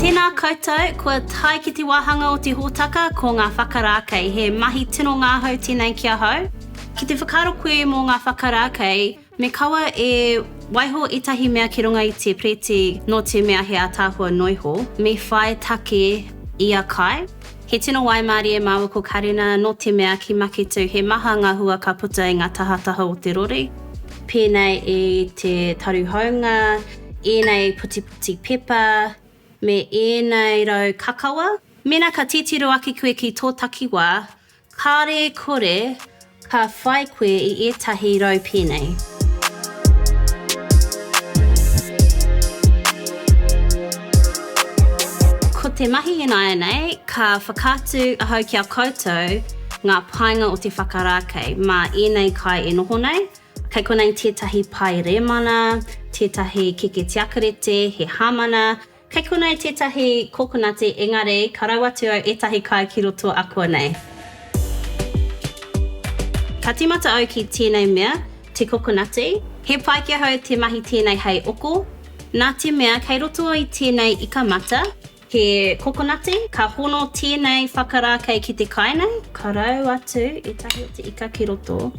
Tēnā koutou, kua tae ki te wāhanga o te hōtaka ko ngā whakarākei. He mahi tino ngahau tēnei ki ahau. Ki te whakaaro koe mō ngā whakarākei, me kaua e waiho ētahi mea ki runga i te Preti nō te mea he ātaahua noiho, me whai take ia kai. He tino waimārie māua ko Karena nō te mea ki Maketū he maha ngā hua ka puta i ngā tahataha o te rori, pēnei i te taru haunga, ēnei putiputi pepa me ēnei rau kakawa. Mēnā ka titiro ake koe ki tō takiwā, kāre kore Ka whai koe i ētahi rau pēnei. Ko te mahi ināianei, ka whakaatu ahau ki a koutou ngā painga o te whakarākei mā ēnei kai e noho nei. Kei konei tētahi pae rēmana, tētahi keke tiakarete, he hāmana, Kei konei tētahi kokonati engari ka rau atu au ētahi kai ki roto akuanei. Ka tīmata au ki tēnei mea, te kokonati. He pai ki ahau te mahi tēnei hei oko, nā te mea kei roto i tēnei ika mata he kokonati, ka hono tēnei whakarākei ki te kai nei. Ka rau atu ētahi o te ika ki roto.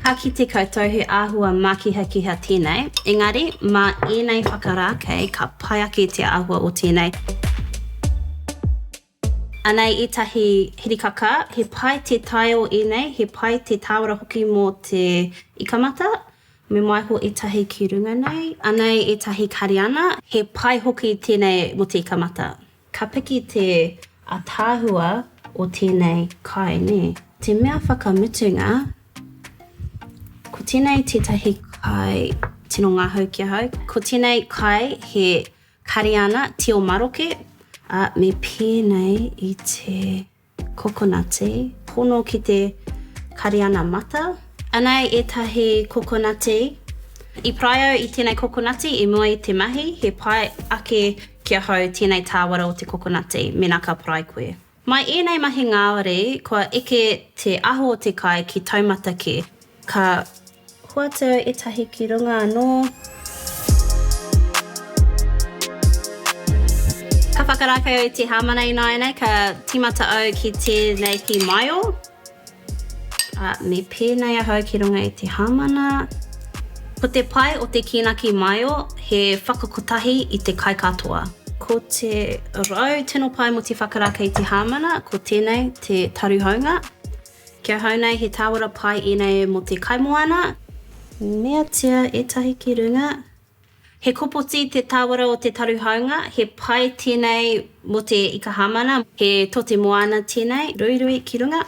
Ka kite koutou he āhua mākihakiha tēnei, engari, mā ēnei whakarākei ka pai ake te āhua o tēnei. Anei ētahi hirikaka, he pai te tae o ēnei, he pai te tāwara hoki mō te ikamata, me waiho ētahi ki runga nei. Anei ētahi kariana, he pai hoki tēnei mō te ikamata. Ka piki te ataahua o tēnei kai, nē? Te mea whakamutunga, ko tēnei tētahi kai tino ngahau ki ahau. Ko tēnei kai he Kariana tio maroke, ā, me pēnei i te. Kokonati, pono ki te Kariana mata. Anei etahi kokonati. I pai au i tenei kokonati i mua i te mahi, he pai ake ki ahau tenei tawara o te kokonati, mena ka parai koe. Mai enei mahi ngawari, kua eke te aho o te kai ki taumata ke. Ka hoatu au etahi ki runga anoo. Ka whakarakau au i te hamana ināianei ka timata au ki tēnei ki Maio. A, me pēnei ahau ki runga i te hamana. Ko te pai o te kina ki Maio he whakakotahi i te kai katoa. Ko te rau tino pai mo te whakaraka i te hamana ko tenei te taruhaunga. Ki ahau nei he tāwara pai ēnei mō te kaimoana. Meatia ētahi ki runga. He kopoti te tāwara o te taru haunga, he pai tēnei mō te ika hāmana. He tote moana tēnei, ruirui ki runga.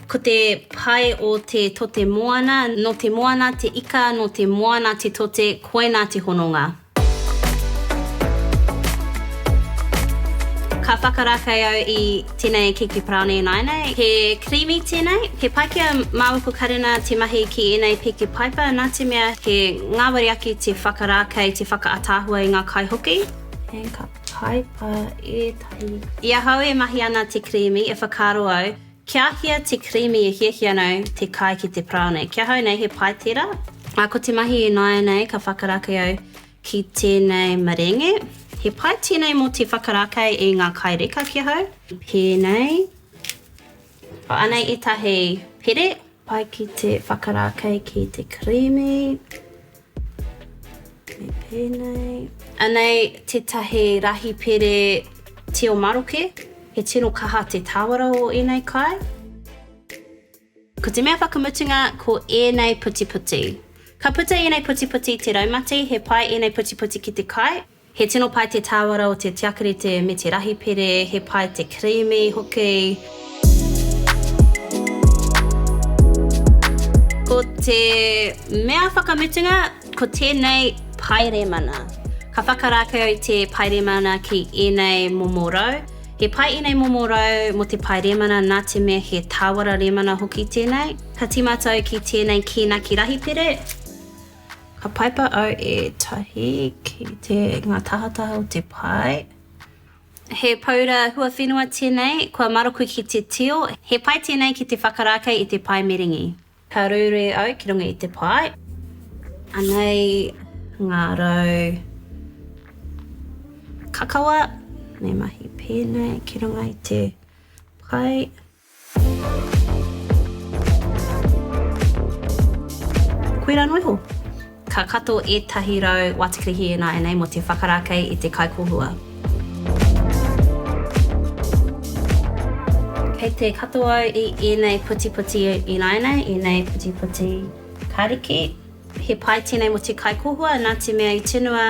Ko te pai o te tote moana, nō te moana te ika, nō te moana te tote, koinā te hononga. Ka whakarakau au i tenei kiki paraone ināinei. He creamy tenei. He pai kia maua ko Karena te mahi ki enei piki paipa na te mea he ngawari ake te whakarākei te whakaataahua i nga kai hoki. Hei ka paipa etahi. I ahau e mahi ana te creamy e whakaaro au Kia hia te creamy e hiahia nau te kai ki te parao nei? Ki ahau nei he pai tera. A ko te mahi inaianei ka whakarakei au ki tenei marenge. He pai tenei mo te whakarakei i nga kai reka ki ahau. Penei. Ko anei etahi pere. Pai ki te whakarākei ki te kirīmi. Me pēnei. Anei tētahi rahi pere tio maroke. He tino kaha te tāwara o ēnei kai. Ko te mea whakamutunga ko ēnei putiputi. Ka puta ēnei putiputi i te raumati, he pai ēnei putiputi ki te kai. He tino pai te tāwara o te tiakarite me te rahi pere, he pai te kirīmi hoki. Ko te mea whakamutunga, ko tēnei pae rēmana. Ka whakarākau i te pae rēmana ki ēnei momo rau. He pai ēnei momo rau mō te pae rēmana nā te mea he tāwara rēmana hoki tēnei. Ka tīmata au ki tēnei kīnaki rahi pere. Ka paipa au ētahi ki te, ngā tahataha o te pae. He paura huawhenua tēnei, kua maroku ki te tio. He pai tēnei ki te whakarākei i te pae merengi. Ka ruirui au ki runga i te pae. Anei ngā rau kakawa, me mahi pēnei ki runga i te pae. Koirā noa iho. Ka kato ētahi rau watikirihi e nāianei mō te whakarākei i te kaikōhua. Kei te kato au i ēnei putiputi i nāianei, ēnei putiputi kariki. He pai tēnei mō te kaikohua nā te mea i tunua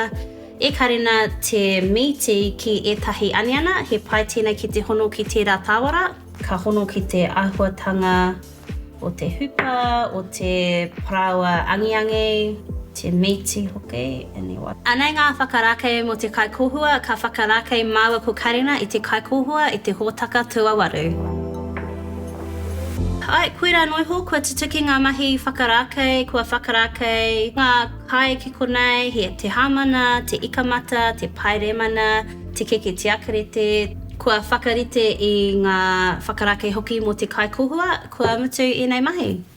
e Karena te mīti ki ētahi aniana, he pai tēnei ki te hono ki tērā tāwara. Ka hono ki te āhuatanga o te hupa, o te parāoa angiangi, te mīti hoki. Anei ngā whakarākei mō te kaikohua, ka whakarākei māua ko Karena i te kaikohua, i te hōtaka tūawaru. Ae, koirā noa iho kua tutuki ngā mahi whakarākei, kua whakarākei ngā kai ki konei, he te hāmana, te ikamata, te paeremana, te keke tiakarete, kua whakarite i ngā whakarākei hoki mō te kai kohua, kua mutu ēnei mahi.